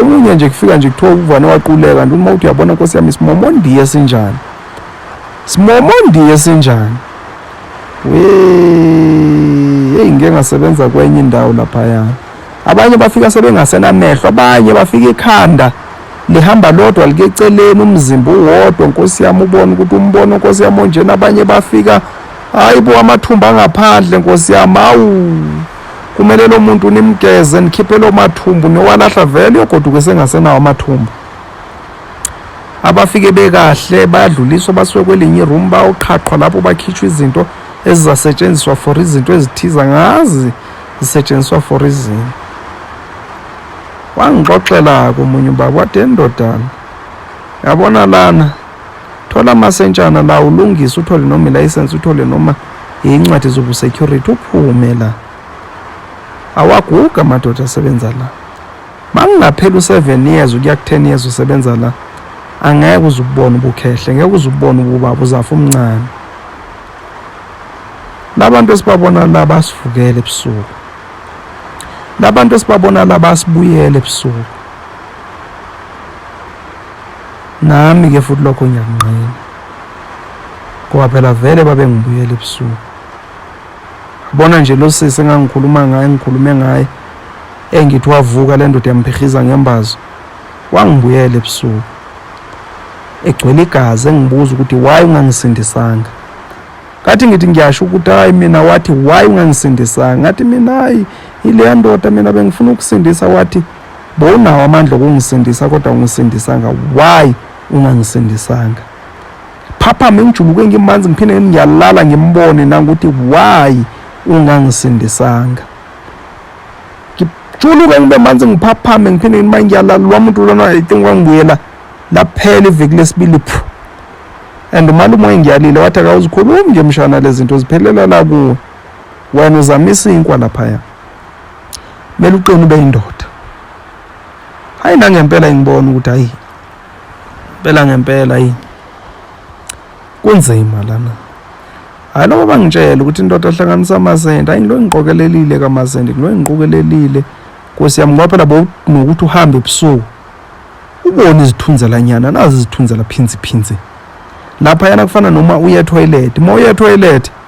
omunye nje kufika nje kuthiwa ukuvana waquleka nto uma uthi uyabona nkosi yami simomondiye sinjani simomondiye sinjani eyi ngike ngasebenza kwenye indawo laphaya abanye bafika sebengasenamehlo abanye bafika ikhanda lihamba lodwa like eceleni umzimba uwodwa nkosi yami ubona ukuthi umbono nkosi yami onjena abanye bafika hayi bo amathumba angaphandle nkosi yami awu kumele lo muntu nimgeze nikhiphe lo mathumbu nowalahla vele uyogoduka sengasenawo amathumbu abafike bekahle bayadluliswa basuke kwelinye iroom bawuqhaqhwa lapho bakhishwa izinto ezizasetshenziswa for izinto ezithiza ngazi zisetshenziswa for izini wangixoxela-ke omunye ubaba wade ndodana yabona lana thola amasentshana la ulungise uthole noma ilayisensi uthole noma yincwadi zobusecurity uphume la awaguga amadoda asebenza la makungaphela u-seven years ukuya ku-ten years usebenza la angeke uze ububone ubukhehle ngeke uze ububone ububaba uzafa umncane labantu esibabona la basivukele ebusuku labantu esibabona la basibuyele ebusuku nami ke futhi lokho ngiyakunqina ngoba phela vele babengibuyela ebusuku bona nje lo sisi engangikhuluma ngaye ngikhulume ngaye engithi wavuka le ndoda yamphihliza ngembazo wangibuyela ebusuku egcwele igazi engibuza ukuthi why ungangisindisanga ngathi ngithi ngiyasho ukuthi hayi mina wathi why ungangisindisanga ngathi mina hayi ileya ndoda mina bengifuna ukusindisa wathi Bowunawo amandla okungisindisa kodwa ungisindisanga. Why ungangisindisanga? Phaphame ngijuluke ngimanzi ngiphinde ngiyalala ngimbone nangokuthi why ungangisindisanga. Ngijuluke ngibe manzi ngiphaphame ngiphinde ngima ngiyalala lo muntu lona I think wangibuyela laphela iviki lesibili phu. And umalume engiyalile wathi akawuzikhulumi nje mshana lezinto ziphelela la kuwe. Wena uzamisa inkwa lapha ya. kumele uqine ube indoda hayi nangempela engibona ukuthi hayi impela ngempela yini kunzima lana hayi loba bangitshela ukuthi indoda ahlanganisa amazende hayi ngilo engiqokelelile kamazende ngilo engiqokelelile nkosi yami ngoba phela bonokuthi uhambe ebusuku ubone izithunzelanyana nazi izithunzela phinzi phinzi lapha yana kufana noma uye toilet uma uye toilet